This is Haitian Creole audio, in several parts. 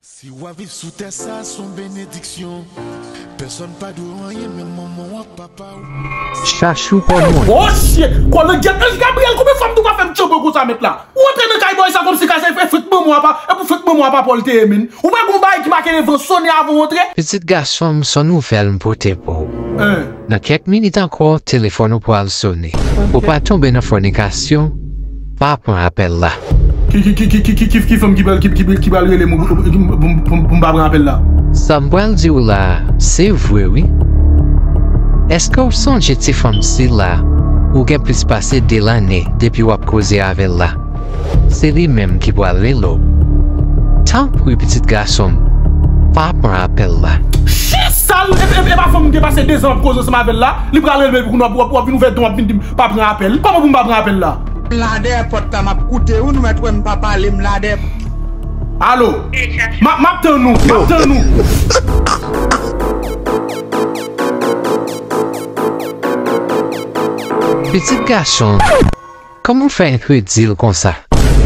Si wap viv sou tè sa son benediksyon Pèsòn pa dwe w anyen menm manman w ak papa w. Chachou pa mwen. Oh shit! Kolangyètnèj Gabriel konbyen fwa m tou pa fè m tchoko konsa mèt la? Ou antre nan kay bòy sa kòmsi kay sa e fèt manman w a pa e pou fèt manman w a pa paw l te ye menn. Ou pa gen yon bagay ki make le van sone avan w antre? Pitit gason m son nouvèl m pote pou ou. Nan kèk minit ankò telefòn ou pral sone. Pou w pa tonbe nan fònikasyon, pa pran apèl la. Ki fanm ki pral rele m pou m pa pran apèl la? Sa m pral di w la a, se vre wi. Èske w sonje ti fanm sila ou gen plis pase de lane depi w ap koze avè l la? Se li menm ki pral Lelo. Tanpri pitit gason m, pa pran apèl la. Chi sal! Epa fanm m te pase 2 zan map koze ansanm avèl la, li pral relem epi kounya wap vin ouvè don wap vin dim pa pran apèl, kòman pou m pa pran apèl la? M la dèyè pòt la map koute wi nou mèt wè m pa pale m la dèyè. Alo! Map tann ou, map tann ou. Pitit gason. Kòman fè enpe dil konsa.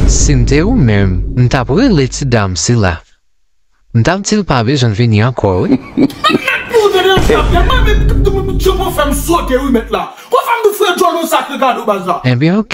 Sim te ou menm m tap rele ti dam sila m tap dil pa bezwen vini ankò wi. Enben ok.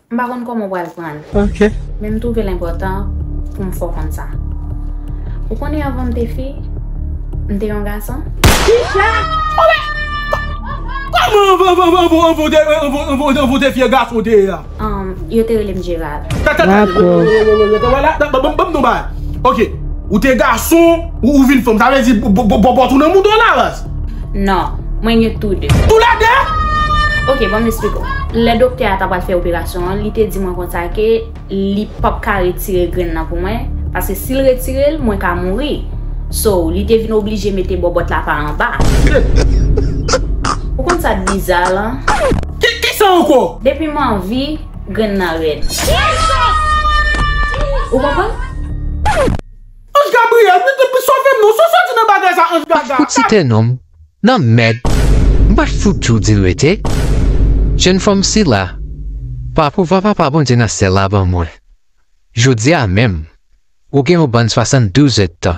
M pa konn kòman w pral pran l. Ok. Men m twouve l enpòtan pou m fè w konn sa. Ou konnen anvan m te fi, m te yon gason? Kicha! O men! Kòman anvan anvan anvan anvan anvan ou te anvan anvan anvan anvan ou te fi e gason ou te ye a? Anm, yo te rele m Gerard. Tande tande tande! Rete wè wè wè wè wè la! Ban ban ban m di yon bagay. Ok. Ou te gason, ou vin fanm. Sa vle di bòbòt ou nan mouda w la ras? Non, mwen gen tou 2. Tou lè 2? Ok, banm esplik ou. Lè doktè a ta pral fè operasyon an, li te di mwen konsa ke li pap ka retire grenn nan pou mwen, paske si l retire l, mwen ka mouri. So, li te vin oblije mete bòbòt la pa anba. Ou konn sa k biza lan? Ki, ki sa ankò? Depi m anvi, grenn nan rèd. Ou konprann? Ange Gabriel wi depi sovem non sa soti nan bagay sa Ange Gaga. Mpat fout site nonm nan mèd mpat fout tjou dil rete jèn fanm sila pa pouvwa papa Bondye nan syèl la ban mwen jodia menm ou gen yon bann 72 èd tan.